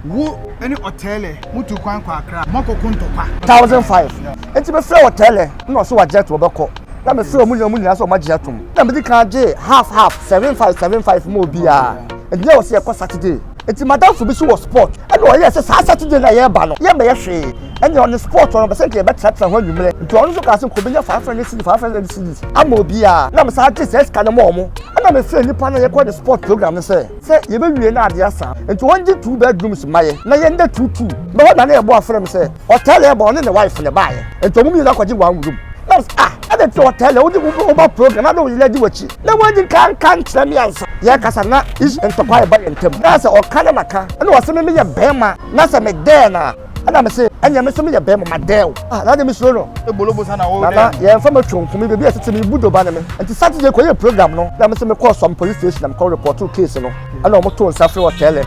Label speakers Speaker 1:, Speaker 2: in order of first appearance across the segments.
Speaker 1: Wo ne Ɔtɛɛlɛ motuu kwan kɔɔ Akra, moakɔko ntɔkwa. Thousand five.
Speaker 2: Enti mefrɛɛ Ɔtɛɛlɛ na ɔse wagye atom, ɔbɛkɔ. Na mefrɛɛ wɔn nyinaa, wɔn nyinaa se wɔagye atom. Na medi kan gyee half half, seven five, seven five maa obiara. Enti na wɔse yɛkɔ Saturday. Enti m'adamfo bi nso wɔ Spot, ɛna ɔyɛɛ sɛ saa Saturday no a yɛreba no, yɛremmɛyɛ hwee. Ɛnneɛ ɔne Spot hɔ no, ɔpɛ sɛ nka yɛbɛtenatena hɔ anwummerɛ. Enti ɔno nso kaa sɛ nka ɔbɛnya five hundred cedis, five hundred cedis ama obiara. Na mesan gyee saa sika no maa wɔn. Ɛna mefrɛɛ nnipa no a yɛkɔ ne Spot program no sɛ. sɛ yɛbɛwie na adeɛ asa nti wɔngye two bedrooms mma yɛn na yɛnda two two na hɔ na na yɛbɔ afrɛ me sɛ ɔtɛlɛ ɛba ɔne ne wife na ɛbaeɛ nti ɔmo mmienu akɔgye one room na ɔmo sɛ ah ɛna nti ɔtɛlɛ wode woba program na na wo yere di w'akyi na wɔnyi nka nka nkyerɛ me ansa yɛkasa na ish ntɔkwa ɛba yɛn ntam na sɛ ɔka na maka ɛna ɔsɛ me meyɛ bɛrima na sɛ medɛɛ na ɛna me se ɛnyɛ me nso meyɛ bɛɛ mo ma dɛw ah na de me suro no ebolobo sa na wo nana
Speaker 1: yɛn fa matwa nkumi
Speaker 2: bebi a ɛsɛ sɛ me bu doba ne me nti saturday kɔ yɛ program no na me se mekɔɔ sɔm police station na mekɔ repɔto case no ɛna wɔn to nsa firi ɔtɛlɛ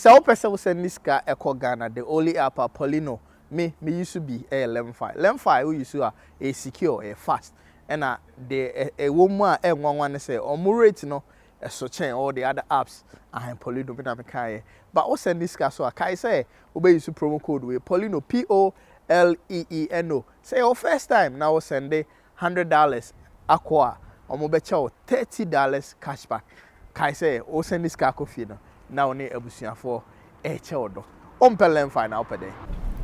Speaker 3: Sɛ wopɛ sɛ wo sɛnde sika ɛkɔ Ghana the only app a Polino me me use bi ɛyɛ Lemfi. Lemfi wo use a ɛyɛ secure, ɛyɛ fast ɛna deɛ ɛwɔ mu a ɛnwanwa ne sɛ wɔn rate no ɛso kyɛn all the other apps ahe polino me na me kaeɛ ba wo sɛnde sika so a kae sɛ wo bɛ use promo code wei polino p o l e e n o sɛ yɛ wo first time na wo sɛnde hundred dollars akɔ a wɔn bɛ kyɛ wo thirty dollars cashback kae sɛ wo sɛnde sika akɔ fie no na wo ne abusuafoɔ ɛkyɛ wo dɔ Wompɛ Lenfi na wopɛ dɛn?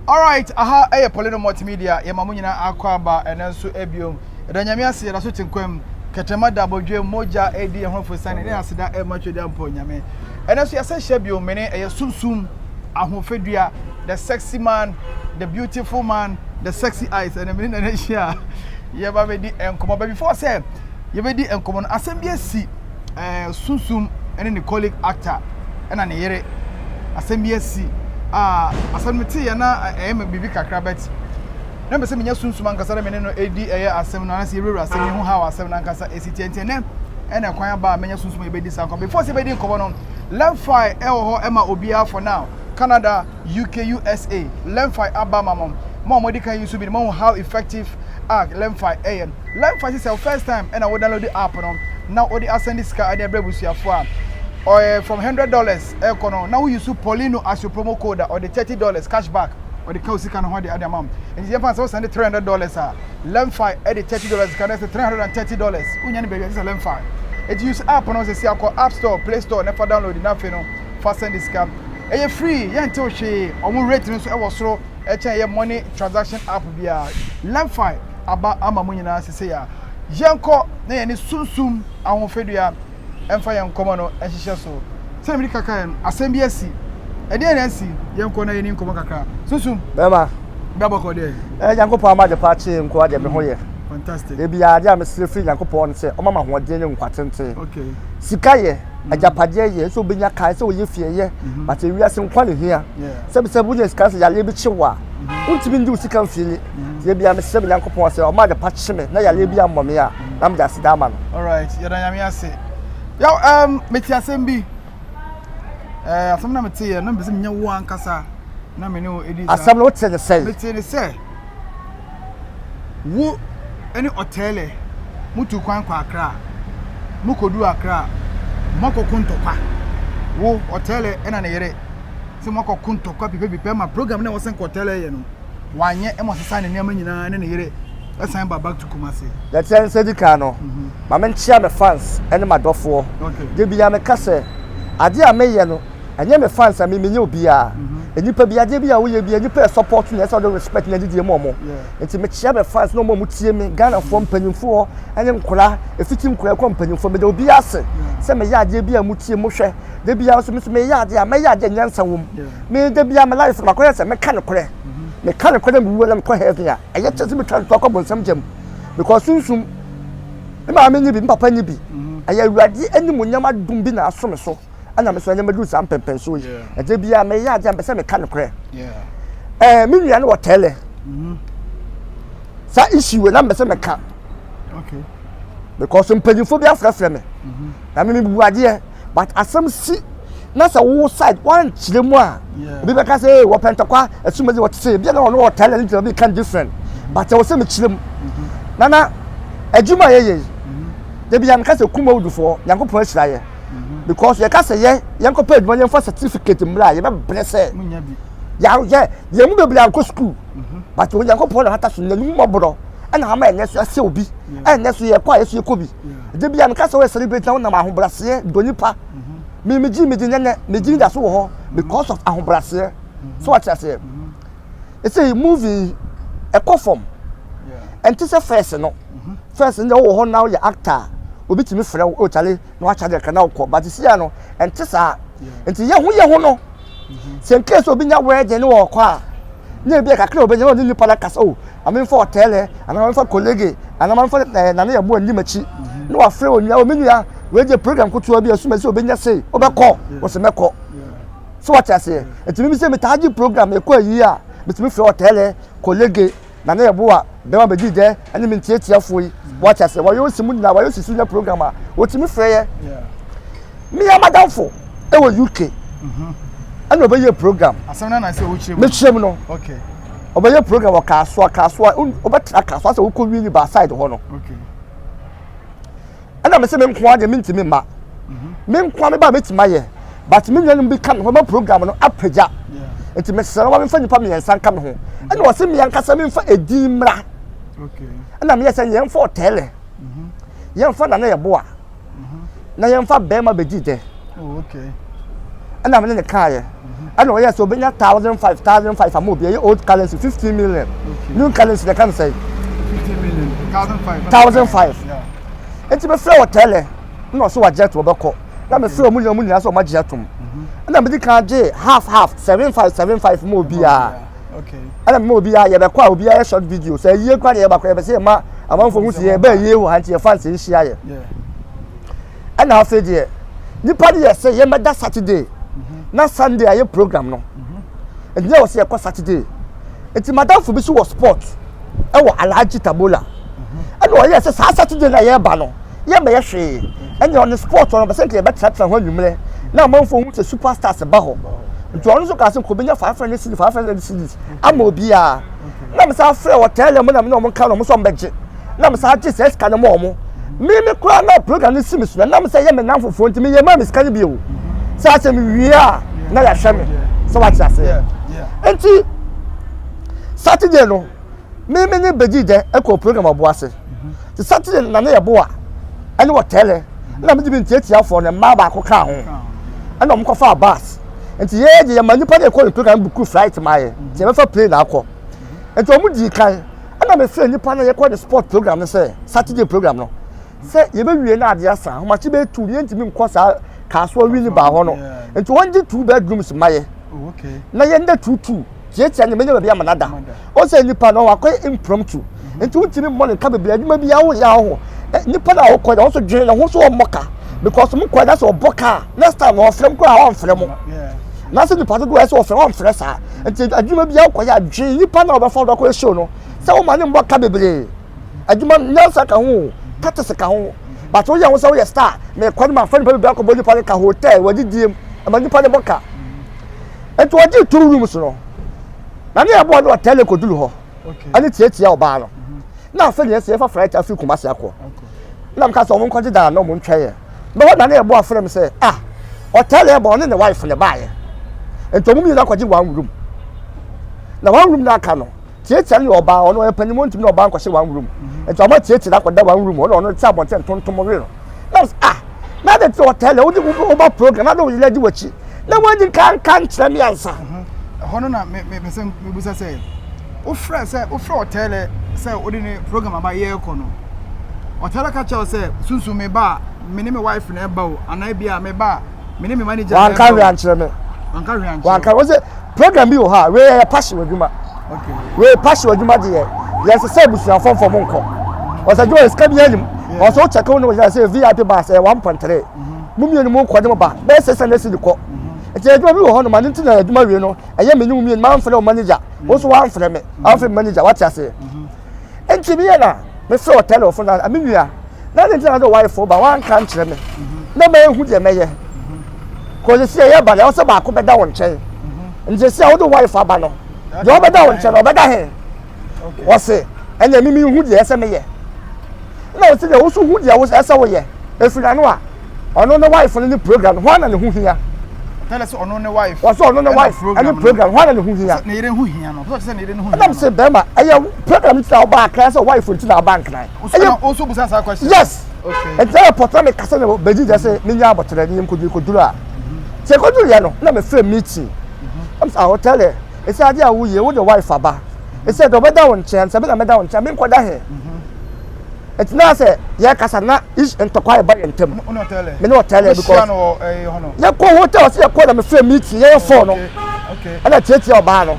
Speaker 3: Alright aha
Speaker 1: yɛ Paulino Multimedia yɛma mo nyinaa akɔ aba ɛnɛ nso biom yɛda Nyame ase yɛda so te nkwam kɛtɛma da abɔdwam mogya adi yɛn ho aforosiane ne aseda ɛma Twedeampɔn Nyame ɛnɛ nso yɛasan hyia biom me ne ɛyɛ Sum Sum Ahofadua the sexy man the beautiful man the sexy eyes ɛnɛ me ne Nana ahyia yɛba bɛdi nkɔmmɔ but before sɛ yɛbɛdi nkɔmmɔ no asɛm bi asi ɛɛ Sunsum ne ne colleague actor na ne yere asɛm bi asi a asɛm no te yɛ na ɛyɛ me biribi kakra but na mepɛ sɛ menya Sunsum ankasa na me ne no ɛdi ɛyɛ asɛm no anasɛ yɛwurawura asɛm no ho how asɛm no ankasa ɛsi tiɛ nti ɛnɛ ɛna kwan aba a menya Sunsum a yɛbɛdi saa nkɔmmɔ before sɛ yɛbɛdi nkɔmmɔ no Lemfi ɛwɔ hɔ ɛma obiara for now Canada UK, USA, Lemfi aba ama mo. Mo a mo adi kan yi nso bi no mo ahu how effective a Lemfi yɛ. Lemfi sɛ sɛ wo first time ɛna wo download app no na wo de asɛnde sika ɛde ɛbrɛ abusuafoɔ a ɔyɛ from hundred dollars ɛkɔ no na wo use Paulino as your promo code a ɔde thirty dollars cash back ɔde ka wo sika no ho ɛde ɛde ama mo. Nti yɛn fa sɛ wo sɛnde three hundred dollars a Lemfi ɛde thirty dollars ka na ɛsɛ three hundred and thirty dollars wo nya no baabi a ɛsɛ sɛ Lemfi. Eti use app no sɛ si akɔ app store, play store na ɛfa download na afei no fa sɛnde sika. Ɛyɛ free, yɛntew hwee, wɔn rate no nso wɔ soro kyɛn ɛyɛ money transaction app biara. Lemfi aba ama mo nyinaa sesei a. Yɛnkɔ na yɛne sunsum ahofadua mfa yɛn nkɔmmɔ no nhyehyɛ so. Sɛnea mede ka kaeɛ no, asɛm bi asi. Ɛdeɛn na asi? Yɛnkɔ na yɛni nkɔmmɔ kakra. Sunsum. Bɛma.
Speaker 2: Bra bɔkɔ deɛ.
Speaker 1: Ɛɛ Nyankopɔn ama adepa
Speaker 2: akyee nkoa deɛ me ho yɛ. Fantastic. Dabiaa
Speaker 1: adeɛ a mesrɛ
Speaker 2: firi Nyankopɔn ne sɛ ɔmma me ahoɔden ne nkwa tenten. Okay. Sika
Speaker 1: yɛ.
Speaker 2: agyapadeɛ yɛ sɛ wobɛnya kaa sɛ wɔyɛ fie yɛ mhm. but ewiase nkwa ne hia sɛbi sɛ wonya sika sɛ yareɛ bi kye wo a mhm. wontumi ndi wo sika mfie ni mhm. yɛ bia mesrɛ me nyankopɔn sɛ ɔma adepa kye me na yareɛ bi ammɔ me a na mede aseda ama no alright yɛda nyame
Speaker 1: ase yaw um, mete asɛm bi eh, asɛm na meteyɛ na mpɛ sɛ menya wo ankasa na me ne wo ɛdi asɛm no wote ne sɛ mete
Speaker 2: ne sɛ
Speaker 1: Wo ne Otele mutuu kwan kɔɔ Accra. Mokoduu Accra a, moakɔko ntɔkwa. Wo, Otele na ne yere sɛ moakɔko ntɔkwa pipɛpipɛ ma program no a wɔsan kɔɔ Otele yɛ no, wanyɛ ma ɔsesaa ne nneɛma nyinaa ne ne yere san baa back to Kumasi. Yɛkyerɛ nsa di kan
Speaker 2: no, ma menkyea me fans ne m'adɔfoɔ. Da biara meka sɛ, adeɛ a meyɛ no, Ɛnyɛ me fans a me menyɛ obiara. Nnipa bi adeɛ bi a woyɛ bi nnipa yɛ support na ɛsɛ ɔde respect na didie ma ɔmo. Nti mekyia me fans na ɔmo a ɔmo tie me Ghanafoɔ mpanyinfoɔ ɛne nkora efiti nkora ɛkɔ mpanyinfoɔ meda obiara ase sɛ meyɛ adeɛ bi a mo tie mo hwɛ da biara nso me nso meyɛ adeɛ a mɛyɛ adeɛ a nyansa wɔ mu me da biara me life no makɔ yɛ sɛ meka nokorɛ meka nokorɛ na mewuo na mekɔ heaven a ɛyɛ kyɛ sɛ metwa ntoa kɔ bonsam gya mu because sunsum me maame nye bi me papa nye bi ɛyɛ awurade anim onyam adum bi na aso me so. ɛna me so ɛnyɛ mɛduru saa mpɛmpɛnsoɔ yi ɛdeɛ biara mɛyɛ adeɛ a mpɛ sɛ meka nokorɛ ɛɛ me nua no wɔ tɛɛlɛ mm-hmm. saa issue wei na mpɛ sɛ meka
Speaker 1: because
Speaker 2: mpanyinfoɔ bi afrɛfrɛ me mm-hmm. na me mebu adeɛ but asɛm si na sɛ wo side wankyerɛ mu a obi bɛka sɛ ee wɔpɛ ntɔkwa asumadi wɔte sɛ ebi na ɔno wɔ tɛɛlɛ ne gyina bi kan different mm-hmm. but ɛwɔ sɛ mekyerɛ mu nana adwuma yɛyɛ yi ebi yɛn kasa kum awudufoɔ nyankopɔn ahyira yɛ. because yɛka sɛ yɛ yɛnkɔpɛ adwuma yɛmfa certificate mmra a yɛbɛbrɛ sɛ
Speaker 1: yɛayɛ yɛn mu
Speaker 2: bebree ankɔ sukuu mhm. but onyankopɔn na hata so na ne mu mmɔborɔ ɛna ama ɛnɛ so ɛsɛ obi ɛnɛ so yɛkɔ a yɛso yɛkɔ bi ɛde bia meka sɛ woyɛ celebrate na wonam ahobraseɛ dɔ nipa mhm. megye megye nɛnɛ megye da so wɔ hɔ mhm. because of ahobraseɛ so wate aseɛ ɛsɛ yi movie yi ɛkɔ fam ɛnte sɛ fɛs no mhm. fɛs no deɛ wowɔ hɔ na woyɛ actor obi tumi frɛ wo ɔkyale oh, na wakyɛ deɛ kana wokɔ but sia no ɛnte saa nti yɛ ho yɛ ho no mhm. sɛ nkee sɛ obi nya wɛɛgye ne wɔkɔ a ne ebi kakra obi nya ɔne nipa no kasa o oh, amemfa ɔtɛlɛ anaa amemfa kolege anaa amemfa ɛɛ eh, nane yɛ boɔ anim akyi mhm. ne wafrɛ onua o oh, me nua wɛɛgye program kotoa bi asuma sɛ obi nya sei wobɛkɔ wɔsɛ mɛkɔ So wate aseɛ? Nti mimi sɛ metaa gye program ɛkɔ ayie a, metumi frɛ ɔtɛɛlɛ, kɔlege, na ne yɛboa bɛma bɛdi dɛ ɛne me ntiatiafoɔ yi. Wate aseɛ? Wɔyɛ osi mu nyinaa, wɔyɛ osi so nyɛ program a, wɔtumi frɛ yɛ. Meyɛ madamfo ɛwɔ UK. Ɛna ɔbɛyɛ program. Asɛm na na sɛ wokyerɛ
Speaker 1: mu. Mekyerɛ mu no.
Speaker 2: Okay. Ɔbɛyɛ
Speaker 1: program
Speaker 2: wɔ Kasoa, Kasoa, ɔbɛtra Kasoa sɛ wokɔ wie ni baaside hɔ no. Okay.
Speaker 1: ɛna
Speaker 2: mese me nkoa deɛ mentumi mma me nkoa me ba mɛtumi ayɛ but me nuanom bi ka me ho ma program no apagya nti mesrɛ no ma memfa nnipa mmiɛnsa nka me ho ɛna ɔse me ankasa memfa ɛdin mmra
Speaker 1: ɛna meyɛ sɛ
Speaker 2: yɛmfa ɔtɛɛlɛ yɛmfa nana yɛboa na yɛmfa bɛrima bɛdi dɛ
Speaker 1: ɛna mene
Speaker 2: ne kaeɛ ɛna ɔyɛ sɛ ɔbɛnya thousand five thousand five ama obi ɛyɛ old currency fifteen million new currency na ɛka no sɛn thousand five nti mefrɛ wɔ tɛlɛ na ɔsɛ wagye ato ɔbɛkɔ na mefrɛ ɔmo nyinaa ɔmo nyinaa sɛ ɔmo agye atom ɛna mede kan gye half half seven five seven five ma obiara ɛna
Speaker 1: mema obiara
Speaker 2: yɛbɛkɔ a obiara yɛ short video sɛ yie kora na yɛbakɔ yɛbɛsɛ yɛma amanfoɔ ho si yɛbɛ yie wɔ ha nti yɛfa nsɛ nhyia yɛ ɛna afei deɛ nipa no yɛ sɛ yɛmɛda saturday na sunday ayɛ program no ɛdi na wɔ sɛ yɛkɔ saturday nti madamfo bi so wɔ sport ɛwɔ alhaji tabola ɛna ɔyɛ sɛ saa saturday na yɛba no yɛmɛyɛ hwee ɛna ɔne sport ɔno bɛsɛ nka yɛbɛtenatena hɔ anwummerɛ na amanfo hu sɛ superstars ba hɔ nti ɔno nso kaa sɛ nkɔbɛnya five hundred cities five hundred cities ama obiara na mesa frɛ wɔ tɛlɛ mu na mene ɔmo nka no ɔmo sɛ ɔmo bɛgye na mo saa gye saa sika no ma wɔn mímí koraa na program no si mi so na nam sɛ yɛ me nan fofoɔ nti meyɛ maa me sika no bi o sɛ asɛ mewie a na yɛahwɛ me sɛ wate aseɛ nti saturday no mímí ne bɛgyi dɛ ɛkɔ program ɔbo ase nti saturday no na ne yɛ boa ɛne wɔtɛlɛ na megye me ntiatiafoɔ no mmaa baako kaa ho ɛna wɔn kɔfa bus nti yɛyɛ deɛ yɛma nnipa no ɛkɔ ne program buku flight ma yɛ nti yɛbɛfa plane akɔ nti wɔn dii kan ɛna mefrɛ nnipa no yɛkɔ de sport program no sɛ saturday program no sɛ yɛbɛwie no adeɛ asa ahomakye bɛyɛ tu no yɛntumi nkɔ saa kaasoa wi ne baa hɔ no nti wɔngye two bedrooms ma yɛ oh, na
Speaker 1: yɛnda tutu
Speaker 2: tiatia ne menya baabi ama nada ɔsɛ nipa no wakɔ impromptu mhm. nti wotumi mmɔ ne nka bebree adwuma bi awo yɛ ahɔ eh, nipa no a wokɔ na wɔso dwene ne ho so wɔmmɔ ka because mo kɔ na sɛ ɔbɔ ka next time na ɔfrɛ m koraa ɔmfrɛ mo na sɛ nipa dodoɔ ɛsɛ ɔfrɛ ɔmfrɛ saa nti adwuma bi akɔyɛ a dwe nnipa na wɔbɛfa wɔbɛkɔ ɛhyɛw no sɛ woma ne mmɔ ka bebree adwuma nyansa ka ho tatese ka ho but woyɛ ho sɛ woyɛ star mekɔ no mafa nipa bebree akɔbɔ nnipa no ka hotel wɔde diem ɛma nnipa no bɔ ka nti wɔgye two rooms no na ne ɛboɔ no ɔtɛle kɔduru hɔ ɛne tiatia
Speaker 1: ɔbaa no
Speaker 2: na afei deɛ sɛ yɛfa flight afiri kumase akɔ na mka sɛ ɔmo nkɔgye daa na ɔmo ntwɛn bɛhɔ da ne yɛbɔ afrɛ m sɛ ah ɔtaa na ɛbɔ ɔne ne wife ne baayɛ nti ɔmo mmienu akɔgye one room na one room no aka no tiatia ne ɔbaa ɔno ɛpanyimɔ ntumi na ɔbaa nkɔhyɛ one room nti ɔmo tiatia no akɔda one room ɔno ɔno te abɔnten tontom we no na ɔsɛ ah na de te ɔtɛn na wode wo ba program na de wo yɛlɛ di w'akyi na wɔadi ka nka nkyerɛ me ansa mhm. ɛhɔ no na
Speaker 1: mepɛ sɛ mebusa sɛ wofrɛ sɛ wofrɛ ɔtɛlɛ sɛ wode ne program aba yɛrekɔ no ɔtɛlɛ ka kyerɛ wo sɛ sunsum me ba a me ne me wife na ɛba o anaa bi a me ba a me ne me manager na wanka ɛbɔ hwee ankyerɛ me
Speaker 2: wanka hwee ankyerɛ wanka wɔn sɛ program bi wɔ hɔ a wei yɛ passion adwuma okay wei
Speaker 1: passion adwuma
Speaker 2: de yɛ yɛn sɛ sɛ abusuafo nfa wɔn nkɔ wɔn sɛ joy sika bi yɛn nim wɔn sɛ wɔkyɛ kaw ne wɔn sɛ vip bus ɛyɛ one point three mu mmienu mu nkɔ ne mu ba bɛyɛ sɛ sɛ ne si de kɔ ɛti adwuma bi wɔ hɔ no ma ne ti na adwuma wie no ɛyɛ me ne mu mmienu ma nfrɛ wɔn manager wɔn nso wɔn anfrɛ me anfrɛ me manager wɔate aseɛ. Enti meyɛ na mefrɛ ɔtaa no fo na me nua na ne ntina na ɔwarefo ba wanka nkyerɛ me na ma ehu deɛ mɛyɛ kɔ sisi a yɛba na ɛwɔ sɛ baako bɛda wo nkyɛn nti sisi a wode warefo aba no deɛ ɔbɛda wo nkyɛn na ɔbɛda he wɔse ɛnna mimi hu deɛ ɛsɛ meyɛ na wɔsi deɛ woso hu deɛ ɛsɛ woyɛ efiri n'ano a Ɔno ne wife no ne program no hwan na ne ho hia? Tell us ɔno
Speaker 1: ne wife. Wɔsɛ ɔno ne wife
Speaker 2: ɛne program hwan na ne ho hia? Ne yere ho hia no.
Speaker 1: Wɔsɛ ne yere ne ho hia no. Ɛnam sɛ bɛrima ɛyɛ
Speaker 2: program ti na ɔba akran sɛ wife nti na ɔba nkran. Ɛyɛ o so busa saa
Speaker 1: question. Yes. Okay. Ɛnti
Speaker 2: ɛyɛ pɔtɔ
Speaker 1: ne kasa
Speaker 2: na bɛgyi gyɛ sɛ ne nya abɔtɛrɛ ne yɛm koduru koduru a. Sɛ koduru yɛ no na me fɛ meeting. Ɛm sɛ ahɔ tell her. Ɛsɛ adeɛ a woyɛ wo de wife aba. Ɛsɛ dɛ ɔbɛda wo nkyɛn sɛ me na mɛda wo nkyɛn menkɔda he. ɛti na sɛ yɛ kasa na ish ntɔkwa yɛ ba yɛ ntɛm me ne ɔtɛlɛ
Speaker 1: bi kɔ
Speaker 2: yɛ
Speaker 1: kɔ hotel ɔsi yɛ
Speaker 2: kɔ na me fɛ mi ti yɛ yɛ fɔɔ no ɛna
Speaker 1: tietia ɔbaa
Speaker 2: no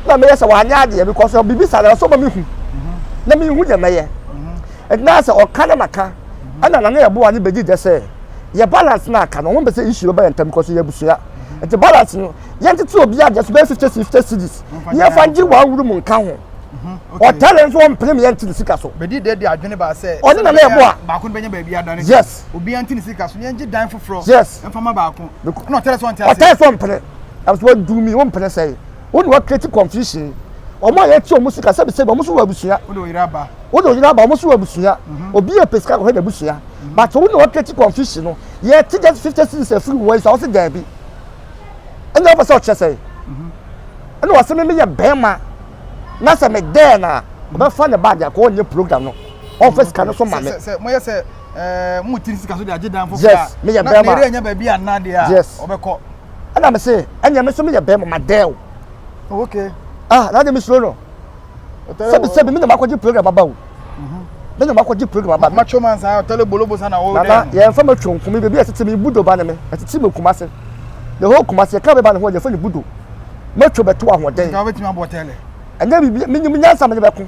Speaker 2: na me yɛ sɛ wanyɛ adeɛ because sɛ bibi sa na ɔsɔ ma mi hu na mi hu deɛ mɛ yɛ ɛti na sɛ ɔka na ma ka ɛna na ne yɛ bo ani bɛ di dɛ sɛ yɛ balance na aka na wɔn bɛ sɛ ish yɛ ba yɛ ntɛm because yɛ busua ɛti balance no yɛn tete obi adeɛ so bɛ fifty fifty cities yɛ fa gye wɔn awuru mu nka ho. Mhm, okay. ɔtare nso ɔmpene ne yɛnte ne sika so Bɛdi dɛ de adwene baa sɛ
Speaker 1: Ɔne na na sɛdeɛ ɛbɛyɛ ɛbɔ a. a baako
Speaker 2: no bɛnya baabi adane deɛ,
Speaker 1: Yes. obiara nte ne sika
Speaker 2: so na
Speaker 1: yɛngye dan foforɔ Yes. mfa ma baako.
Speaker 2: Bec-
Speaker 1: Ɛna ɔtare sɛ ɔnte aseɛ. ɔtare sɛ ɔmpene
Speaker 2: ɛm sɛ waduru mi wompene sɛe wo ne wakreti confusion ɔmo a yɛte ɔmo sika sɛbisɛbi ɔmo so wɔ abusua Wode oyere aba. wo
Speaker 1: ne oyere aba ɔmo so
Speaker 2: wɔ abusua obi yɛ pɛ sika kɔhwɛ n'abusua but wo ne wakreti confusion no yɛte just fifty series afiri wɔ nsa ɔse daabi ɛna ɔpɛ sɛ ɔkyerɛ sɛe ɛna ɔse me meyɛ bɛrima na sɛ me dɛɛ no a ɔbɛfa ne bag akɔ ɔnyɛ program no ɔmfa sika no so ma me sɛ moyɛ sɛ
Speaker 1: ɛɛ mo tiri sika so de agye dan foforɔ yes meyɛ bɛrima na meyɛ
Speaker 2: nya baabi a nna deɛ
Speaker 1: a yes ɔbɛkɔ ɛna me se
Speaker 2: ɛnyɛ me so meyɛ bɛrima ma dɛɛ o oh, okay
Speaker 1: ah na de me
Speaker 2: suro no sɛbi sɛbi me na makɔgye program aba o Mhm. Ne nyɛ makɔ gye program aba. Ma twom ansa ya tele bolobo
Speaker 1: sa na wo. Nana yɛ nfa ma twom fun mi
Speaker 2: bebi ɛtete mi budo ba ne me ɛtete mi kuma se. The whole kuma se yɛ ka me ba ne ho yɛ fɛ ne budo. Ma twom ɛto ahoɔden. Nka wobɛtumi abɔ tele.
Speaker 1: Ɛnyɛ bibi mi nyim
Speaker 2: nyansa me ne bɛko.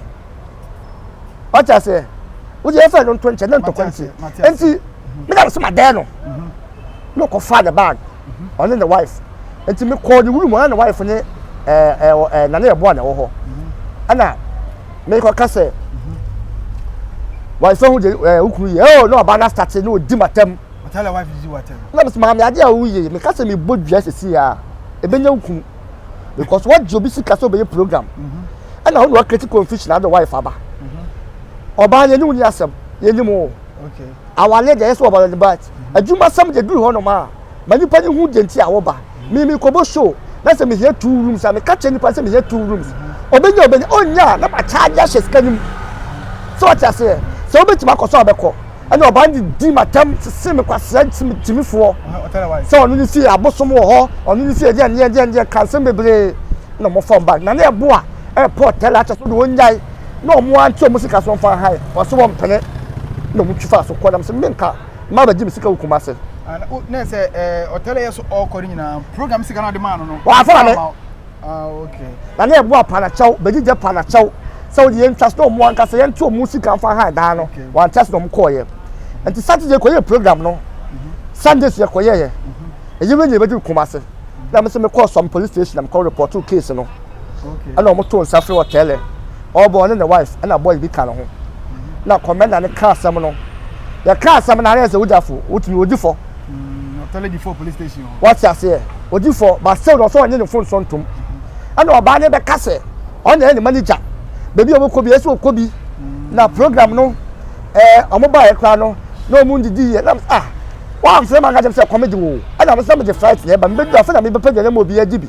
Speaker 2: Wate aseɛ. Wo yɛ fɛ no nto nkyɛ ne ntɔkwa nti. Nti me na me se ma dɛn no. Mhm. No kɔ fa ne bag. ɔne ne wife nti me kɔɔ ne wuru mu ɔne ne wife ne ɛɛ ɛɛ ɛɛ nane ɛboa na ɛwɔ hɔ ɛna me kɔ ka sɛ wife ho de ɛɛ okuru yɛ ɛɛ na ɔba na sate na odi ma tɛm ɔtɛ na wife di wa
Speaker 1: tɛm na bɛ sɛ maame ade a
Speaker 2: woyɛ me ka sɛ me bɔ dua sisi a ebe nya okunu because wɔn gye obi sika sɛ ɔbɛyɛ program ɛna ɔno ɔkɛti confusion adi wife aba ɔbaa yɛ ne wuli asɛm yɛ ne mu o awale
Speaker 1: deɛ ɛsɛ
Speaker 2: ɔbaa yɛ ne ba ti. Adwumasɛm de duru hɔnom a, ma nnipa no hu deɛ nti a wɔba. Me, mekɔbɔ show na sɛ mehia two rooms a, meka kyerɛ nnipa no sɛ mehia two rooms. Ɔbɛnya a ɔbɛnya, ɔnnya a na macharge ahyɛ sika no mu. Sɛ wate aseɛ? Sɛ wobɛtumi akɔ so a wobɛkɔ. Ɛnna ɔbaa no didi m'atɛm, sese me kwasea gyimifoɔ sɛ ɔno ne
Speaker 1: fie, abosom
Speaker 2: wɔ hɔ, ɔno ne fie, ɛdeɛn ɛdeɛn ɛdeɛn ɛdeɛn, ka nsɛm bebree. Ɛnna wɔfa wɔn bag na na ɛboa ɛrepɔ hotel akyɛ so de wɔn nyae. na wɔn ante wɔn sika so wɔmfa nhae wɔse wɔmpene na wɔn twi faa so kɔ nam sɛ menka ma bɛgye me sika wɔ kuma ase na sɛ
Speaker 1: ɔtɛlɛ yɛ so ɔkɔ ne nyinaa program sika no ade maa no no wɔafa me na ne ɛboa
Speaker 2: panakyɛw bɛgyigya panakyɛw sɛ wode yɛntwa so na wɔn anka sɛ yɛnte wɔn sika mfa nhae daa no wɔante ase na wɔn kɔɔyɛ nti saturday kɔyɛ program no mhm. sunday so yɛkɔyɛɛ mhm. ɛyɛ wei nyɛ bɛgye kuma ase na me sɛ mekɔɔ some police station na mekɔ report case no ɛna wɔn to nsa frɛ wɔ tɛlɛ ɔbɔ ɔne ne wife ɛna boy bi ka ne ho na kɔmɛnda ne ka asɛm no yɛ ka asɛm na ayɛ sɛ wogya fo wotumi odi fɔ tɛlɛ di
Speaker 1: fɔ police station hɔ wɔte aseɛ
Speaker 2: odi fɔ basew na ɔsɛ ɔnye ne fon sɔ ntom ɛna ɔbaa ne bɛka sɛ ɔna ɛne manager baabi a wɔkɔ bi ɛsɛ ɔkɔ bi na program no ɛɛ wɔn baeɛ koraa no na wɔn ndidi yɛ na ah wɔamfrɛ ma nka gyam sɛ kɔmɛgye wo ɛna wɔn sɛ mede flight na ɛba mebɛduru afei na mebɛpɛ deɛ na ma obi agye bi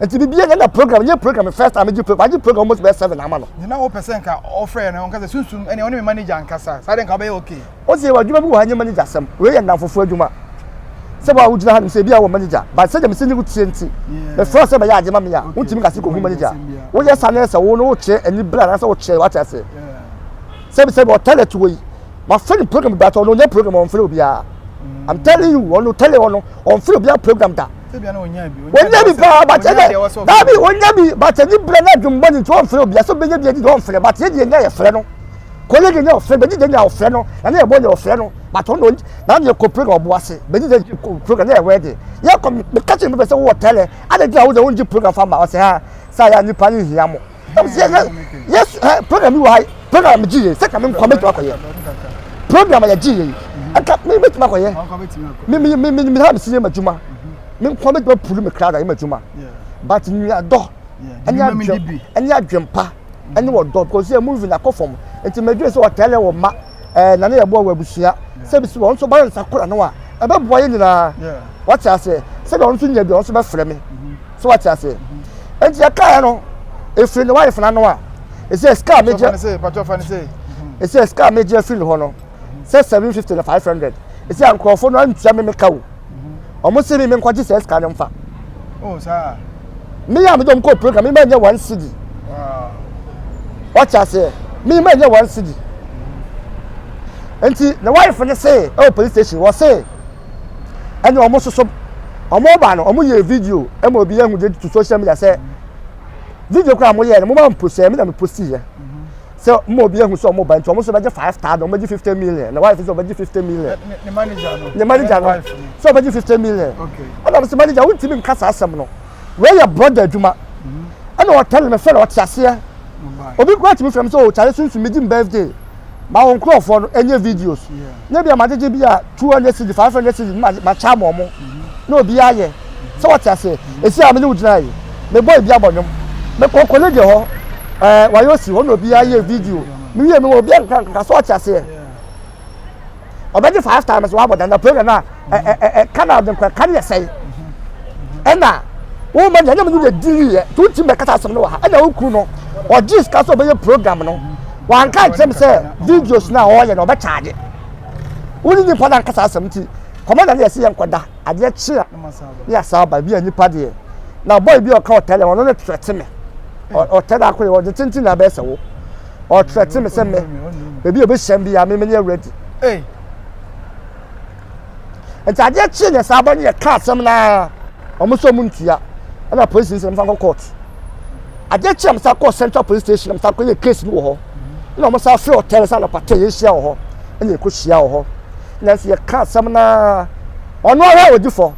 Speaker 2: nti bibi yɛ na program yɛ program first time gye program gye program almost bɛyɛ seven ama no. ne na wɔpɛ sɛ nka
Speaker 1: ɔfrɛ no ɔnka sɛ sunsum ɛne ɔne me manager nkasa saa de nka ɔbɛyɛ okay. o sɛ yɛwɔ adwuma bi wɔ ha
Speaker 2: nyɛ manager asɛm wei yɛ nnamfofoɔ adwuma sɛ wɔn a wogyina ha nom sɛ ebi a wɔ manager but sɛdeɛ mesɛ ne wotie nti mefrɛ sɛ bɛyɛ ade ma me a wontumi kase kɔhu manager woyɛ sa ne sɛ wo no wokyerɛ ani berɛ anaasɛ wokyerɛ wate ase sɛbi sɛbi ɔtɛlɛ to wɔ yi wafrɛ no program bi atɔ ɔno ɔnyɛ program ɔmfrɛ obiara I'm telling you, on the tele, on, on free, be a program that. wɔnya bi paa but ɛnɛ daabi wɔnya bi but ɛni brɛ na dum bɔne nti wɔnfrɛ obi aso bɛnya bi ɛni deɛ wɔnfrɛ but yɛ deɛ nya yɛfrɛ no kɔlɛ deɛ nya ɔfrɛ bɛdi deɛ nya ɔfrɛ no na ne yɛbɔ nya ɔfrɛ no but ɔno na ne yɛkɔ program ɔbo ase bɛdi deɛ kɔ program na yɛwɛ deɛ yɛkɔ mekakye mepɛ sɛ wowɔ tɛlɛ adɛ deɛ a wode wongye program fa ma ɔsɛ ha saa yɛ nipa ne hia mo yes eh, program yi wɔ ha program gye yɛ sɛ ka me nkwa mɛtumi akɔyɛ program yɛ gye yɛ ɛka me mɛtumi akɔyɛ me me me me me ha me si yɛ ma adwuma me nkwa mɛtumi apuru me kra da yɛ ma adwuma but nuadɔ ɛne adwem ɛne adwempa ɛne wɔdɔ because yɛ movie na kɔ fam nti mɛdwe sɛ ɔtaa lɛ wɔ ma. ɛɛ na ne yɛ boɔ wɔ abusua sɛbi si wɔn nso ba yɛ nsa kora no a ɛbɛ boa yɛ nyinaa wate aseɛ sɛbi wɔn nso nya bi wɔn nso bɛfrɛ me so wate aseɛ nti yɛ kaa yɛ no efiri ne wife n'ano a ɛsɛ sika a megye ɛsɛ sika a megye afiri ne hɔ no sɛ seven fifty na five hundred ɛsɛ nkurɔfoɔ no antua me meka o. Ɔmo se mi menkɔgye saa sika no mfa. Oh, saa.
Speaker 1: Me yɛ a mede
Speaker 2: ɔmo kɔ program, me mɛnyɛ one cedi. Ɔte aseɛ, me mɛnyɛ one cedi. Nti, ne wife no se, ɛwɔ police station, wɔ se, ɛne ɔmo soso, ɔmo ba no, ɔmo yɛ video, ɛma obi yɛ hu de to social media sɛ, video kora mo yɛ no, mo ma mpo sɛ, me na me posti yɛ. sɛ mo obi ehu sɛ ɔmo ba nti ɔmo nso bɛgye five thousand ɔmo bɛgye fifty million na wife nso ɔbɛgye fifty million. ne manager no ne manager no sɛ ɔbɛgye fifty million ɛna ɔmo sɛ manager wo ntumi nka saa asɛm no wei yɛ brɔda adwuma mm-hmm. ɛna ɔtɛn me fɛ na ɔte aseɛ obi kura tumi fɛm sɛ ɔkyare oh, sunsun mi gye mi birthday ma wɔn nkorɔfoɔ no ɛnyɛ videos. Yeah. nyɛ bia magyegye bi a 200 cedi 500 cedi ma makyɛ ama ɔmo na obi ayɛ sɛ wɔte aseɛ ɛsi a me ne wo gyina yi mebɔ ebi abɔ nnwom mekɔ kɔle deɛ hɔ ɛɛ wayɛ osi hɔ na obi ayɛ video me wie me wɔ obi ankaka so wɔte aseɛ ɔbɛgye five times wɔabɔ dada program no a ɛka na ɔde nkwa ɛka no yɛ sɛn ɛna wɔn ma nyanyam no yɛ diri yɛ nti wotim bɛkasa asɛm no wɔ ha ɛna wokuru no ɔgye sika sɛ ɔbɛyɛ program no wanka nkyerɛ m sɛ videos no a ɔyɛ no ɔbɛkyaagye wo ne nipa no ankasa asɛm nti kɔmanda no yɛ sɛ yɛnkɔda adeɛ kye a ne yɛasa aba bi a nipa deɛ na bɔy bi ɔka ɔtɛlɛ ɔno ne trɛte me ɔtɛlɛ ako yɛ ɔde tenten na abɛɛ sɛ wo ɔtrɛte me sɛ me baabi a ɔbɛhyɛm bi a me menyɛ ready nti adeɛ kyee deɛ saa ba no yɛ ka asɛm naa wɔn nso wɔn ntua ɛna polisi nso wɔn san kɔ court adeɛ kyee wɔn san kɔ central police station wɔn san kɔ yɛ case no wɔ hɔ ɛna wɔn san fɛ ɔtɛn san anɔpa tɛ yɛ hyia wɔ hɔ ɛna ɛkɔ hyia wɔ hɔ ɛna nso yɛ ka asɛm naa ɔno ara odi fɔ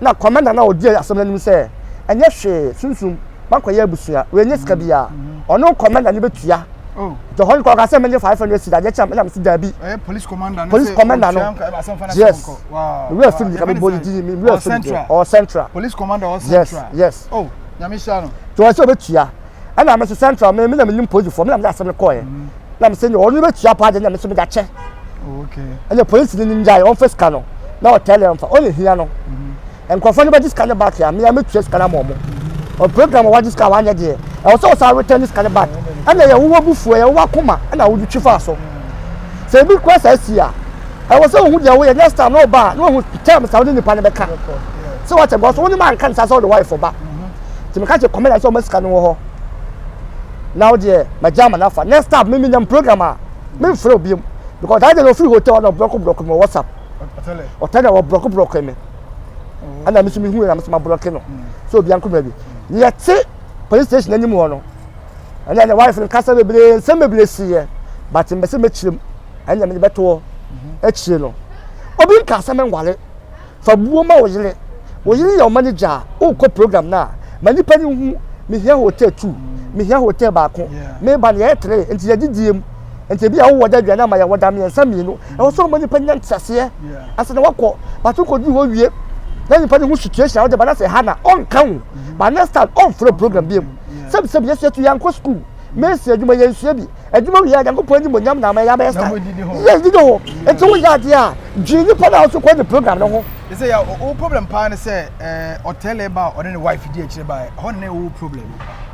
Speaker 2: na kɔmɛnda na odi asɛm n'anim sɛ ɛnyɛ hwee sunsun. makɔyɛ abusua wei nye sika biara ɔno nkɔ mɛna ne bɛtua nti ɔhɔ nkɔ ɔka sɛ menye five hundred sika deɛ kyɛm ɛna mesi daabi police commander no yes mewura fim nika mebɔ ne dini mewura fim deɛ ɔwɔ central police commander ɔwɔ central yes oh nyame hyira no nti ɔwɔ sɛ ɔbɛtua ɛna mese central me mena menim policefoɔ mena mede asɛm no kɔɛ na mese ne ɔno bɛtua paa deɛ na mese mede akyɛ ɛna police no nim gyae ɔmfa sika no na ɔtɛlɛ mfa ɔne hia no nkurɔfoɔ no bɛgye sika no back a me a mɛtua sika no ama wɔn ɔ program a wagye sika a wanyɛ deɛ ɛwɔ sɛ ɔsan return sika no back ɛna yɛ wowɔ bufuo yɛ wowɔ akoma ɛna wode twi faa so sɛ ebi kura saa si a ɛwɔ sɛ wohu deɛ woyɛ next time na ɔba a na wahu terms a wode nipa no bɛka sɛ wakyɛ gɔ so wonim anka ne saa sɛ wode wife ba nti meka kyɛ kɔmɛna sɛ ɔma sika no wɔ hɔ na wodeɛ magya ama no afa next time mimi nyam program a memfrɛ obiam because that day na ɔfiri hotel na ɔbrɔko brɔko me wɔ whatsapp ɔtɛ na wɔbrɔko brɔko me ɛna mi nso mi hu yɛ na mi nso ma blɔki no sɛ obi ankoma bi yɛ te police station anim hɔ no ɛna ɛna wife no kasa bebree nsɛm bebree si yɛ but mbɛ sɛ mɛkyerɛ mu ɛna mi bɛtoɔ akyire no obi nka asɛm nwale fa buo ma wo yere wo yere yɛ ɔma ne gya a wokɔ program no a ma nipa no hu mehia hotel two mehia hotel baako meba no yɛyɛ tere nti yɛgye diem nti ebi a wowɔ da aduane ama yɛ wɔda mmiɛnsa mmienu ɛwɔ sɛ ɔma nipa nya nteaseɛ ase na wakɔ bato kɔduru hɔ wie na nipa ne ho situation a wode ba na sɛ ha na ɔnka wo ba next time ɔmfrɛ program bi mu sɛbisɛbi yɛsua tu yɛankɔ sukuu mesi adwuma yɛnsua bi adwuma wie a nyankopɔn anim onyam na ama yɛ abɛyɛ saa yɛ didi hɔ nti woyɛ adeɛ a dwene nipa no a wosɛ kɔ ne program no ho ɛsɛ yɛ wo problem paa ne sɛ ɔtɛlɛ ba a ɔne ne wife di akyire ba hɔ ne wo problem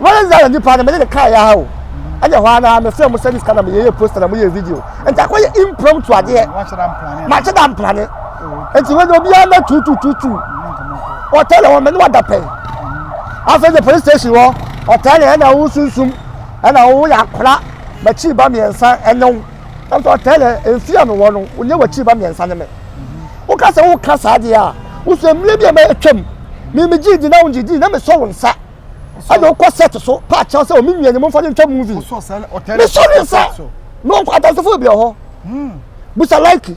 Speaker 2: wednesday na nipa no mede ne kaa yɛ ha o ɛnyɛ hɔ ara mefrɛ mo service ka na meyɛyɛ poster na moyɛ video nti akɔyɛ impromptu adeɛ makyɛ da mprane nti wɛne obiara mɛ tutututu ɔtɛ na wɔmɛ ne wada pɛ afei de police station hɔ ɔtɛ na ɛna wo sunsum ɛna wo yɛ akora makyi ba mmiɛnsa ɛne wo Nanso ɔtɛɛ dɛ, Mfe a mowɔ no, wo nye w'ekyir mba miɛnsa nye me. Woka dɛ woka saa dze a, wo so mber bi a ma etwa mu, menye me gyee dzi na wo nngye dzii na mesɔ wo nsa. Ana ɔkɔ set so pa kyɛw sɛ, O me nua, nye me mfa no ntwa movie? Mesɔ
Speaker 1: ne nsa
Speaker 2: na ɔkɔ. Adansefo bi wɔ hɔ? Busa Laike.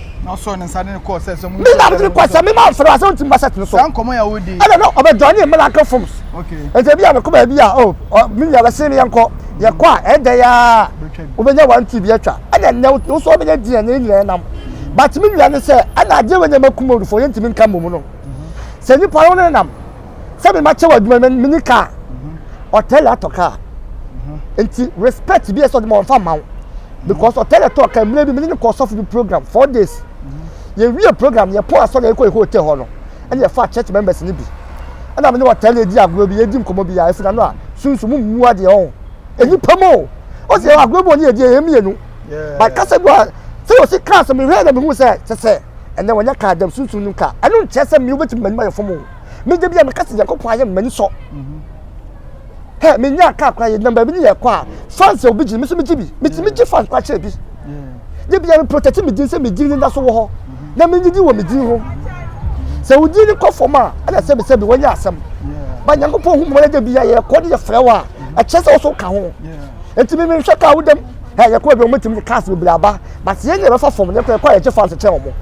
Speaker 2: na ɔsɔɔ ne
Speaker 1: nsa de ne kɔɔ sɛ sɛ mo ne na ɔde kɔ sɛ mema
Speaker 2: mfrɛ asɛ wontim basɛt no so saa nkɔmmɔ yɛ wodi ɛna
Speaker 1: no ɔbɛdwane ne
Speaker 2: miracle forms ɛnti bi a
Speaker 1: mekɔ baabi
Speaker 2: a o oh, me nua bɛse me yɛnkɔ yɛkɔ a ɛdɛ yɛ a wobɛnya one two bi atwa ɛna nnɛ wo so wobɛnya di ɛnyɛ nyinaa nam but me nua ne sɛ ɛna adeɛ wɔ nyɛma kuma odufo yɛntimi nka mmom no sɛ nnipa no ne nam sɛ me ma kyɛ wɔ adwuma no menni kaa mm-hmm. ɔtɛlɛ atɔ kaa mm-hmm. nti respect bi ɛsɛ ɔde ma ɔnfa ma wo mm-hmm. because ɔtɛlɛ tɔ kaa mmerɛ bi mene ne kɔ sɔfo bi program four days yɛwie program yɛpɔ asɔ na yɛkɔ yɛ hotel hɔ no ɛne yɛfa church members no bi ɛna mene ɔtɛlɛ di agorɔ bi yɛdi nkɔmmɔ bi yɛ ɛfina no a sunsun mu mmu adeɛ ɔho nnipa mu o ɔsi yɛ agorɔ mu ɔne yɛdi yɛ mmienu but kasa gu a sɛ yɛ ɔsi kaa sɛ mehwɛ na mehu sɛ sɛ sɛ ɛnɛ wɔnyɛ kaa dɛm sunsun no kaa ɛno nkyɛ sɛ mmea wobɛtumi mmanima yɛ fam o Me da bi a meka sɛ Nyankopɔn ayɛ m'ani sɔ. Hɛ, menya kaa koraa yɛ nam baabi ne yɛkɔ a fans a obi gye me so megye bi. Metumi gye fans koraa kyerɛ bi. Da bi a me protect me din sɛ me din ne da so wɔ hɔ na menye din wɔ me din ho. Sɛ wo din ne kɔ fam a ɛna sɛ mesɛ bi wɔnyɛ asɛm. Ba Nyankopɔn hu mmɔlɛ da bi a yɛkɔ ne yɛfrɛ wo a ɛkyerɛ sɛ wo so ka ho. Nti me menhwɛ kaa wo dam. Hɛ, yɛkɔ baabi a wɔtumi de cars bebree aba. But yɛn nyinaa bɛfa fam, yɛn kɔ yɛn kɔ a yɛgye fans kyɛn wɔn.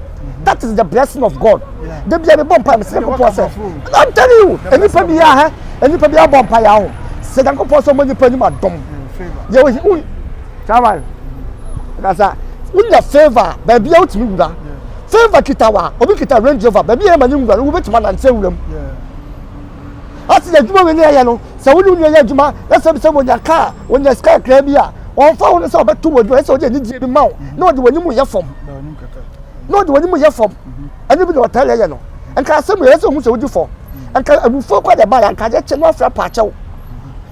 Speaker 2: That is the blessing of God. Da bi a mebɔ mpa mesɛ Nyankopɔn sɛ, and I'm telling you, nnipa bi a hɛ, nnipa bi abɔ mpa yɛ aho. Sɛ Nyankopɔn sɛ ɔmɔ nnipa anim adom. Yɛ wo wo. Chairman, kasa, wonya favor, baabi a wotumi wura. Favor kita wa, obi kita Range Rover, baabi a yɛ ma ne nwura no, wobɛtumi anante awura mu. Ɔse na adwuma wei na yɛyɛ no sɛ wo ne wo nua yɛ adwuma na sɛ bisɛ wɔnya ka a wɔnya sika kakraa bi a ɔmfa ho no sɛ ɔbɛto wo adwuma ɛsɛ ɔde anigyeɛ bi ma wo na ɔde w'anim yɛ fam na ɔde w'anim yɛ fam ɛno bi na ɔtaa yɛyɛ no nka asɛm yɛ sɛ ɔhu sɛ wodi fɔ nka abufuo kɔ na ɛbaeɛ nka adeɛ kye no afra paakyɛw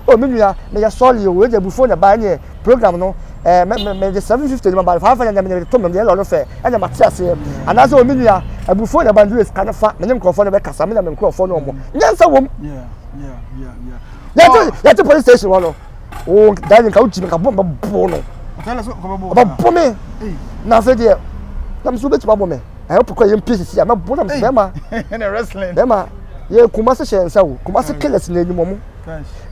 Speaker 2: o me nua meyɛ sɔre o wei de abufuo na ɛbaeɛ neɛ program no ɛɛ mɛ mɛ mɛde seven fifty de ma ba no five hundred na mɛde to mɛm deɛ lɔri fɛ ɛna ma te aseɛ anaasɛ omi nua abufuo na ba ndu esika no fa mɛ ne nkurɔfoɔ no bɛ kasa mɛ na mɛ nkurɔfoɔ no ɔmo nyansa wɔm yɛte yɛte police station hɔ no o dani nka o gyi mi nka bɔ mɛ bɔ no ɔbɛ
Speaker 1: bɔ mi
Speaker 2: na afei deɛ na mɛ so bɛ ti ma bɔ mi ɛyɛ pɔkɔ yɛ mpi sisi a mɛ bɔ na mɛ bɛma bɛma
Speaker 1: yɛ
Speaker 2: kumasi hyɛ nsa o kumasi kɛlɛsi na enyim ɔmo.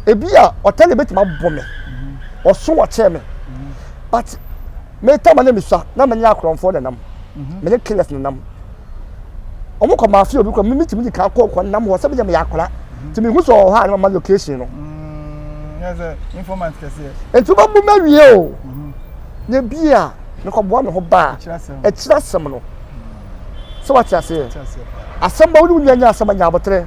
Speaker 2: ebi a ɔtɛ ne betumi abɔ me mm-hmm. ɔso ɔkyɛɛ me mm-hmm. but meta ma ne mesua na menye akorɔmfoɔ na nam mm-hmm. menye killers na nam wɔn kɔ maa fi obi kɔ mi mitumi di kan kɔ kɔ nam hɔ sɛbi yɛ mi yɛ akora ti mi hu sɛ ɔwɔ hɔ a ne ma ma location no.
Speaker 1: nti bɛ bu mɛ wie
Speaker 2: o ne bi a ne kɔ bua ne ho baa ɛkyerɛ asɛm no sɛ wate aseɛ asɛm bɛ wo ne wo nua nya asɛm anya abotire.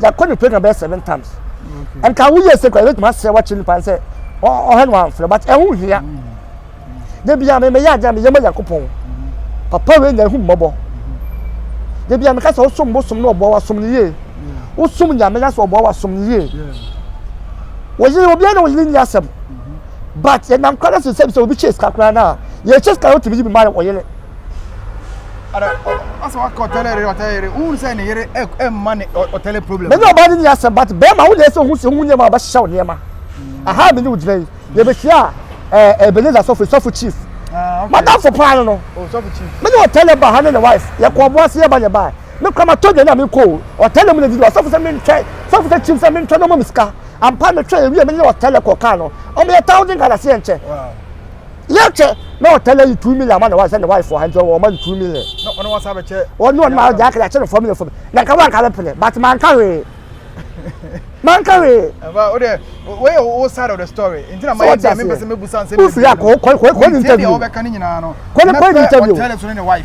Speaker 2: yɛkɔ ne program bɛyɛ seven times nka wo yɛ se kora yɛbɛtumi asrɛ wakyerɛ nipa sɛ ɔhɛ no wamfrɛ but ɛho hia da bia me meyɛ adeɛ a meyɛ ma nyankopɔn papa wei nya ɛhu mmɔbɔ da bia meka sɛ wosom bosom no ɔboa wasom no yie wosom nyame na sɛ ɔboa wasom no yie wɔyere obiara na wɔyere nni asɛm but yɛnam kora no sesɛm sɛ obi kyɛ sika koraa no a yɛkyɛ sika no wotumi yi bi ma ɔyere
Speaker 1: Mene ɔbaa no nni asɛm but
Speaker 2: bɛrima wo deɛ sɛ ho sɛ ho nneɛma ɔbɛhyehyɛ wo nneɛma aha mene wo gyina yi yɛbɛhyia a eh, eh, Ebenezer sɔfo sɔfo chief ah, madamfo paa no no oh, mene ɔtɛlɛ
Speaker 1: ba
Speaker 2: ha ne ne wife yɛkɔ ɔbo ase
Speaker 1: yɛba
Speaker 2: ne ba me kora matɔ dwane a menkɔ ɔtɛlɛ mu na didi ɔsɔfo sɛ mentwɛ sɔfo sɛ chief sɛ mentwɛ no ɔma me sika ampa metwɛ ɛwie mene ɔtɛlɛ kɔ kaa no ɔmeyɛ thousand ghana sɛ yɛnkyɛ
Speaker 1: yɛ kyɛ
Speaker 2: na ɔtɛ na yi two million ama na wa sɛ na wa fɔ ha nkyɛn wɔn ma no two million. na ɔno wɔn sa bɛ kyɛ.
Speaker 1: wɔn ne wɔn ma ɔgya akɛlɛ akyɛ
Speaker 2: no fɔm ne fɔm na nka wɔn nka bɛ pene but man ka wee man ka wee. ɛnfa o de
Speaker 1: o yɛ o side of the story nti na ma yɛ diɛ mi pɛsɛ mi busa nsɛm yɛ bi o firi akɔ kɔ kɔ kɔ
Speaker 2: ni interview
Speaker 1: kɔ ni kɔ ni interview.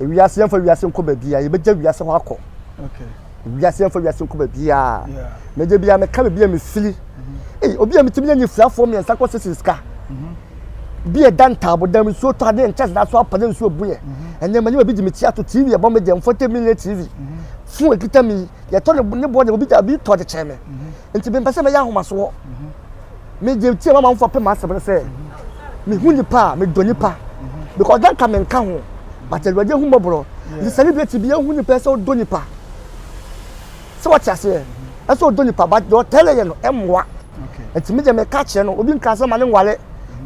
Speaker 2: Ewiase yɛmfa wiase nkɔ baabiara yɛbɛgya wiase hɔ akɔ.
Speaker 1: Wiase yɛmfa
Speaker 2: wiase nkɔ baabiara. Na gye bia meka baabi a mefiri. Mm-hmm. Ei obi a metumi yɛ nyefirafoɔ mmiɛnsa kɔ sisi sika. Mm-hmm. Bi ɛda ntaabo dan nsuo tɔ adeɛ nkyɛnse da so apɛ ne nsuo buiɛ. Mm-hmm. Ɛnɛ manyɛ baabi gye me ti ato TV ɛbɔ me deɛ mfɔte mi ne TV. Fon ekita mi yɛtɔ ne bɔ deɛ obi gya bi tɔ de kyɛn me. Nti mempɛ sɛ mɛyɛ ahomasoɔ. Megye tie ma amanfoɔ pɛ m'asɛm no sɛ mehu nipa a medɔ nipa because na nka menka ho but awurade ahu mmɔborɔ nti sɛ ne bi ati bi ahu nipa sɛ ɔdɔ nipa sɛ wɔte aseɛ ɛsɛ ɔdɔ nipa but deɛ ɔtɛlɛ yɛ no ɛmmoa nti me deɛ meka kyerɛ no obi nka sɛ ma ne nwale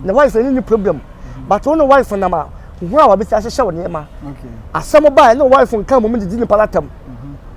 Speaker 2: na wife ne ne problem but wo ne wife nam a ho a wabɛsi ahyehyɛ wo nneɛma asɛm
Speaker 1: baa ne
Speaker 2: wife nka mmom didi nipa no atam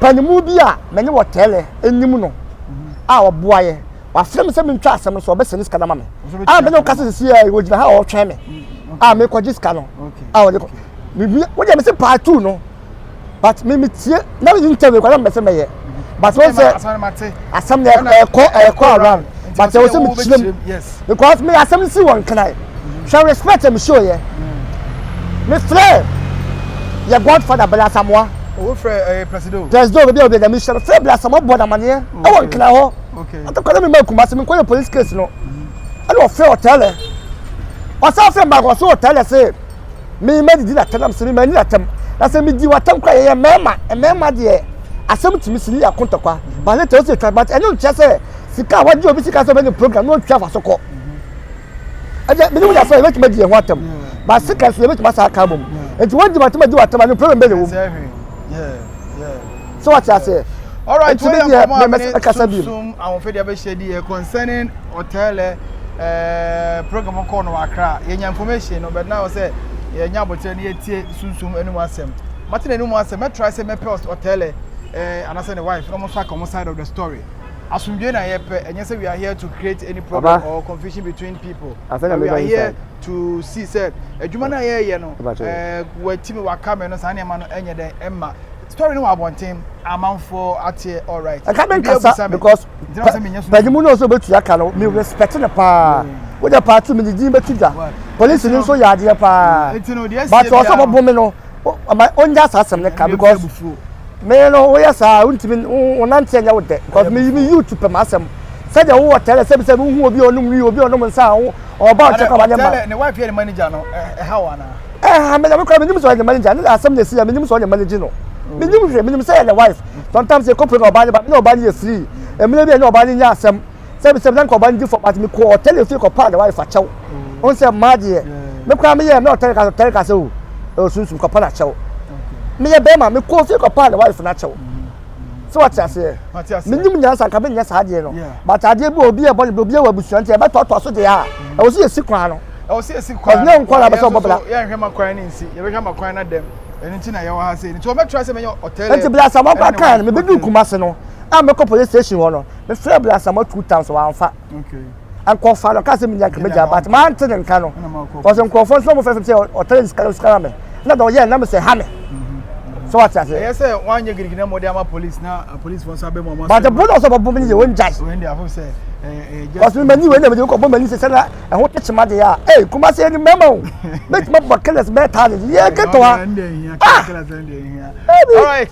Speaker 2: Panyinmu bi a me ne wɔ tɛɛlɛ enyim no a ɔboa yɛ, ɔafrɛ me sɛ mentwa asɛm no so, ɔbɛsɛn ne sika no ama me. A me ne wo kasa sisi yɛ, ogyina ha a ɔretwɛn me a mekɔgye sika no a ɔde kɔ. Mewie, wo deɛ mese part two no, but me metie na me interview kɔ na me bɛsɛ mɛyɛ. But wɔn sɛ asɛm no ɛkɔ ɛkɔ around, but ɛwɔ sɛ mekyerɛ mu because me
Speaker 1: asɛm no si
Speaker 2: wɔ nkenan. Hwɛ respect a me show yɛ. Me frɛ yɛ godfather Bella Samoa. Owó frɛ ɛyɛ eh,
Speaker 1: presido. Presido bɛbi a obi ɛda mi hyɛ me
Speaker 2: frɛ Bella Samoa bɔ n'amaneɛ ɛwɔ nkena hɔ. Atɔkwa na mi ma Kumasi mi nkɔ yɛ police case no. Ɛna ɔfrɛ ɔtɛlɛ. Ɔsan frɛ mbaako ɔso ɔtɛlɛ se mi ma didi n'atɛm na mi se mi ma ni n'atɛm. Na sɛ mi di w'atɛm kora yɛyɛ mmarima mmarima deɛ asɛm tumi si ne yɛ akontɔkwa. But later ɔsi etwa but ɛno nkyɛ sɛ sika a wagye obi sika sɛ ɔbɛ ne program na ɔtwa afa so kɔ. ɛdeɛ mene mu yɛ asɛ yɛbɛtumi adi yɛn ho atam ba sekan so yɛbɛtumi asa aka abom nti wɔadi matam adi watam ano problem bɛ na ɛwom sɛ wɔte aseɛ Alright, nti
Speaker 1: medeɛ
Speaker 2: mɛkasa bi mu ahoɔfɛdeɛ bɛhyɛ
Speaker 1: di concerning ɔtɛlɛ eh, program kɔɔ no wakra yɛnya information no bɛdena hɔ sɛ yɛnya abɔkyerɛ no yɛtie sunsum anim asɛm mate n'anim asɛm mɛtra sɛ mɛpɛ ɔtɛlɛ eh, anaasɛ ne wife na ɔmo nso aka ɔmo side of the story Asomdwee na yɛ pɛ ɛnyɛ sɛ we are here to create any problem or confusion between people but we are here to see sɛ adwuma no a yɛyɛ no ɛɛ watimi waka me no saa nneɛma no ɛnyɛ dɛn ɛma story no wɔ abɔnten amanfoɔ ateɛ alright ɛka me nkasa
Speaker 2: because pɛgimu no nso bɛtua ka no me mm. respect no paa mm. wode party me ne din bɛto dwa polisi no nso yɛ adeɛ paa mm. but ɔsɛ bɔbo me no ɔma ɔnya saa asɛm no ka because me no woyɛ saa wontumi wonante nyɛ wo dɛ because me me youth pɛ m'asɛm sɛdeɛ wowɔ tɛlɛ sɛbi sɛbi wohu obi ɔnom wi obi ɔnom nsa ho ɔba ɔkyɛ kɔ ma ne ma ne wife yɛ ne manager
Speaker 1: no ɛha wo anaa ɛha me na me kora
Speaker 2: menim sɛ ɔyɛ ne manager ne asɛm na ɛsi ya menim sɛ ɔyɛ ne manager no menim hwɛ menim sɛ yɛ ne wife sometimes yɛkɔpɛ na ɔba ne ba me ne ɔba ne yɛ free mmerɛ bi a ne ɔba ne nya asɛm sɛ mesɛ na nka ɔba no di fɔ but mekɔ ɔtɛle fie kɔpaa ne wife akyɛw mm. ɔn sɛ mmaa deɛ me koraa meyɛ na ɔtɛle ka ɔtɛle ka sɛ o ɛwɔ sunsum kɔpa no akyɛw meyɛ bɛrima mekɔ fie kɔpaa ne wife no akyɛw sɛ wate aseɛ menim nyansa nka menyɛ saa adeɛ no but adeɛ bi obi ɛbɔ ne bi obi ɛwɔ abusua nti ɛbɛtɔɔtɔɔ so deɛ a mm. ɛwɔ so yɛsi kwan no ɔnyɛ
Speaker 1: nkwa na bɛsɛ ɔbɔbra
Speaker 2: yɛhwɛ ma kwan no nsi
Speaker 1: yɛbɛhwɛ ma kwan no dɛm ɛno nti na yɛwɔ ha sɛ nti wɔbɛtra sɛ mɛnyɛ ɔtɛlɛ nti bla sɛ wɔkɔ
Speaker 2: kan no mebɛdu kuma se no a mɛkɔ police station hɔ no mefrɛ abrasama two times wamfa
Speaker 1: nkɔfa no
Speaker 2: kase menya nka mɛgya but mante ne nka no ɔsɛ nkurɔfoɔ nso mo fɛfɛ sɛ ɔtare sika no sika me na dɛ ɔyɛ nam sɛ ha me sɛ wate ase ɛyɛ sɛ woanyɛ girigina
Speaker 1: mmɔde ama police na uh, police fɔ nso
Speaker 2: abɛ
Speaker 1: mu
Speaker 2: but
Speaker 1: ɛbo na ɔsɛ
Speaker 2: ɔbɛbɔ
Speaker 1: me ne yɛ
Speaker 2: wɔngyae ɔsɛ mani wei na mede wokɔbɔ mani sɛ sɛna ɛho tekyema deɛ a ei kuma sɛ ɛne mɛma o mɛtumi abɔ kɛlɛs bɛɛ taa ne yɛ kɛtɔ ha ah!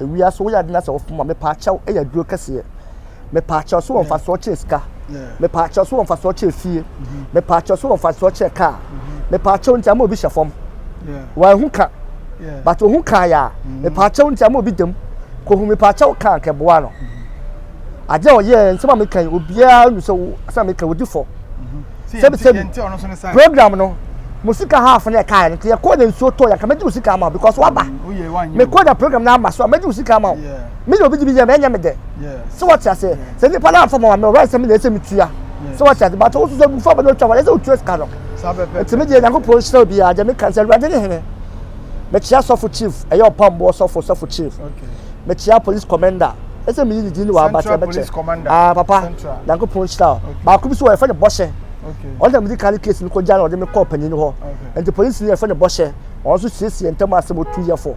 Speaker 2: ewia so woyɛ ade na sɛ wɔfom ma mepɛ akyɛw yɛ aduro kɛseɛ mepɛ akyɛw so wɔ mfasoɔ kyɛ sika mepɛ akyɛw so wɔ mfasoɔ kyɛ fie mepɛ akyɛw so wɔ mfasoɔ kyɛ kaa mepɛ akyɛw nti ama obi hyɛ fam wɔahu ka but ohu kaa yɛ a mepɛ akyɛw nti ama obi dam kohu mepɛ akyɛw kaa kɛboa no adeɛ a ɔyɛ nsɛm a meka yi obiara nu sɛ sɛ meka odi fɔ sɛbi sɛbi program no mo sika half na ɛkaeɛ no nti yɛkɔɔ na nsuo tɔɔ yɛnka mɛgye wo sika ama because waba mekɔɔ na program no ama so a mɛgye wo sika ama wo me na obi gye bi yɛ mɛnyɛ me dɛ sɛ wɔte aseɛ sɛ nnipa no amfa ma ma me ɔwura nsɛm na ɛsɛ metua sɛ wɔte aseɛ bato wo so sɛ gufa bɛde ɔtwa wɔde sɛ wotua sika no ɛtumi deɛ nyankopɔn hyira obi a gyɛ meka sɛ awurade ne hene mekyia sɔfo chief ɛyɛ ɔpamboɔ sɔfo sɔfo chief mekyia police commander ɛsɛ meyi ne din ne wɔabate ɛbɛkyɛ ah papa nyankopɔn nhyira o baako bi so wɔyɛfɛ ne bɔhyɛ ɔno na medi kan ne case no kɔgya na ɔde me kɔɔ panyin hɔ nti polisi no yɛfɛ ne bɔhyɛ ɔno nso siesie ntam asɛm ɔtu yɛfo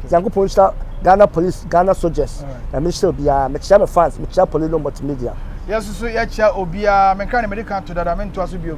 Speaker 2: nyankopɔn nhyira ghana police ghana soldiers na menhyira obiara mekyia me fans mekyia polino multimedia yɛsoso yɛkyia
Speaker 1: obiara menka ne mede ka to dada mentoa so biom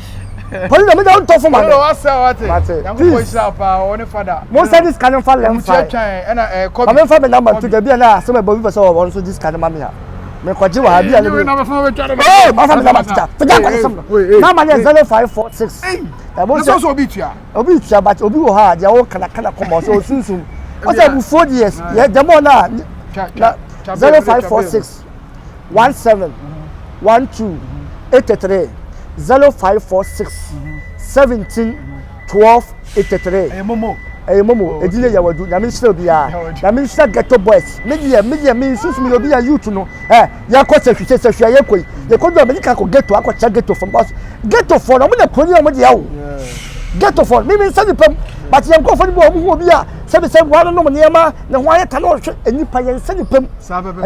Speaker 2: Pɔli na menya ntɔ fo ma me. Mate.
Speaker 1: Please. Mo nsa di sika no nfa
Speaker 2: lɛm fa. Ma me
Speaker 1: nfa me namba
Speaker 2: nto gya bi a na asɛm ɛbɔ bi pɛ sɛ wɔn nso di sika no ma me a. Me kɔ gye wɔ ha bi a ne bi. Ee ma fa me namba to gya. To gya nkɔ ne sɛm no. Namba ne yɛ zero five four six. Ɛbɔ sɛ. Ɛbɔ sɛ obi
Speaker 1: tua. Obi tua but obi wɔ ha
Speaker 2: a deɛ ɔka na ka na kɔma ɔsɛ osunsum. Ɔsɛ abufuo deɛ yɛ dɛm ɔna na zero five four six. one seven one two eight three zero five four six seventeen twelve eight three. ɛyɛ momo. ɛyɛ momo oh, edin yɛ yawadu nyame nhyira obiara nyame nhyira ghetto boys me deɛ me deɛ me nsusu mi yɛ obi yɛ youth no ɛ yɛkɔ sɛhwi sɛ sɛhwi a yɛkɔ yi yɛkɔ du a mɛdi kan kɔ ghetto akɔ kyɛ ghetto fam because ghetto fɔ na wɔn na kuro ni wɔn deɛ o ghetto fɔ mi mi nsa nipa mu but yɛn nkorɔfo ni bi wɔn ho obi a. Sɛbi sɛ mmoa no nom nneɛma na ɛho ayɛ ta na ɔhwɛ nnipa yɛn sɛ nnipa mu.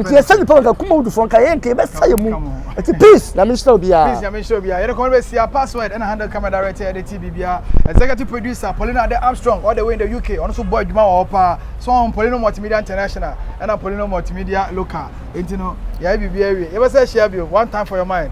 Speaker 2: Nti yɛn sɛ nnipa nka kuma wudufoɔ nka yɛn nka yɛbɛsa yɛn mu. Nti peace nyame nhyira obiara. Peace nyame nhyira obiara. Yɛde kɔmɔ
Speaker 1: bɛsia password ɛna handle camera director yɛde ti biribiara. Executive producer Paulina Ade Armstrong all the way in the UK ɔno nso bɔ adwuma wɔ hɔ paa. So ɔn Paulino Multimedia International ɛna Paulino Multimedia Local. Nti no yɛayɛ biribiara awie. Yɛbɛsa ahyia bio one time for your mind.